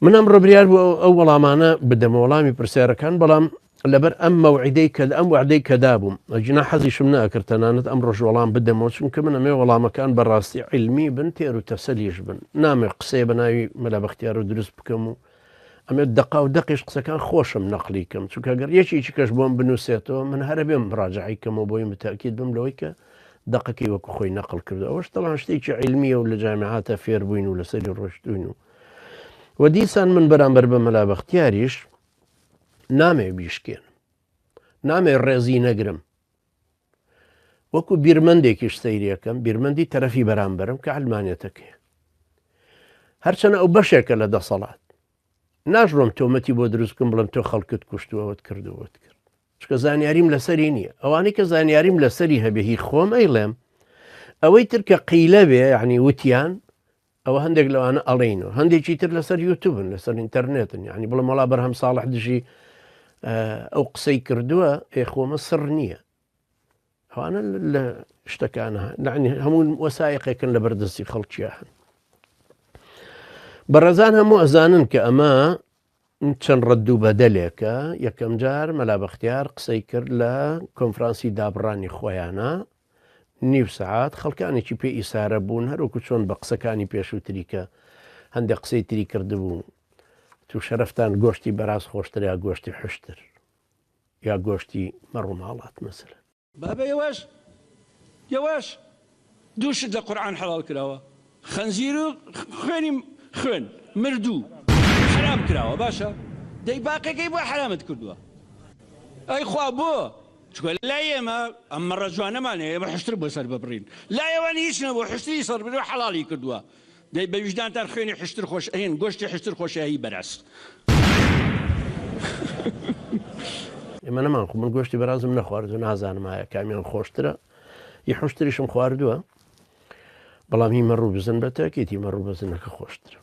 من ئەمڕۆ بریار بوو ئەو وەڵامانە بدەمە وەڵامی پرسیارەکان بەڵام لەبەر ئەم مەوعیدەی کە ئەم وعدەی کە دابووم ئەگینا حەزیشم ناکرد تەنانەت ئەمڕۆش وەڵام بدەمەوە چونکە من ئەمەوێ وەڵامەکان بە ڕاستی عیلمی بن تێر و تەسەلیش بن نامەوێ قسەیە بە ناوی مەلا بەختیارۆ دروست بکەم و ئەمێ دەقا و دەقیش قسەکان خۆشم نەقلی کەم چونکە گەر یەکێکی کەش بۆم بنووسێتەوە من هەرە بێم ڕاجعی کەمەوە بۆی متەکیت بم لەوەی کە دەقەکەی وەکو خۆی نەقل کرد ئەوەش تەوان شتێکی علمیە و لە جامیعاتە فێربووین و لەسەری ڕۆشتوین و و دیسان من بەرامبەر بە مەلا بەختیاریش نامێ بیشکێنم نامێ ڕێزی نەگرم وەکو بیرمەندێکیش سەیرەکەم بیرمەندی تەرەفی بەرامبەرم کە ئەلمانێتەکەی هەرچەنە ئەو بەشێکە لە دەسەڵات ناشڕۆم تۆمەتی بۆ دروستکم بڵم تۆ خەڵکت کوشتوەوەت کردووەت کرد چکە زانیاریم لەسەری نییە ئەوانەی کە زانیاریم لەسەری هەبێ هی خۆم ئەیڵێم ئەوەی ترکە قیلە بێ یعنی وتیان ئەوە هەندێک لەوانە ئەڵێن و هەندێکی تر لەسەر یوتوبن لەسەر ئینتەرنێتن یعنی بڵم وڵا بەرهەم ساڵح دژی ئەو قسەی کردووە ئێخۆمە سڕ نییە ئەوانە لە شتەکانە نعنی هەموو وەسایقێکن لە بەردەستی خەڵکیە هەن بەڕێزان هەموو ئەزانن کە ئەمە چەند ڕەد و بەدەلێکە، یەکەم جار مەلا بەختیار قسەی کرد لە کۆنفرانسی دابڕانی خۆیانا نیو سەعات، خەڵکانێکی پێ ئیسارە بوون هەروەکو چۆن بە قسەکانی پێشووتری کە هەندێک قسەی تری کردبوو تو شەرفتان گۆشتی بەراز خۆشتر یا گۆشتی حشتر یا گۆشتی مەڕوماڵات مەسەلەن. بابە یەواش یەواش دوو شت لە قورعان حەڵاڵ کراوە خەنزیر و خوێنی خوێن مردوو حەرام کراوە باشە دەی باقیەکەی بۆ حەرامت کردووە ئەی خوا بۆ چکە لای ئێمە ئەم مەڕە جوانەمانەیە ئێمە حشتر بۆ سەر ببڕین لای ئەوان هیچ نەبوو حشتری سەر بێ حەڵاڵی کردووە دەی بە ویژدانتان خوێنی حشتر خۆش ئەیەن گۆشتی حشتر خۆشە هەی بەراز. ئێمە نەمان خۆ من گۆشتی بەرازم نەخواردو نازانم ئایا کامیان خۆشترە ی حوشتریشم خواردووە بەڵام هی مەڕوو بزن بە تاکێتی مەڕوو بەزنەکە خۆشترە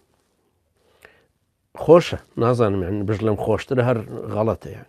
خۆشە نازانم یان بژ لەم خۆشترە هەر غەڵەتەیان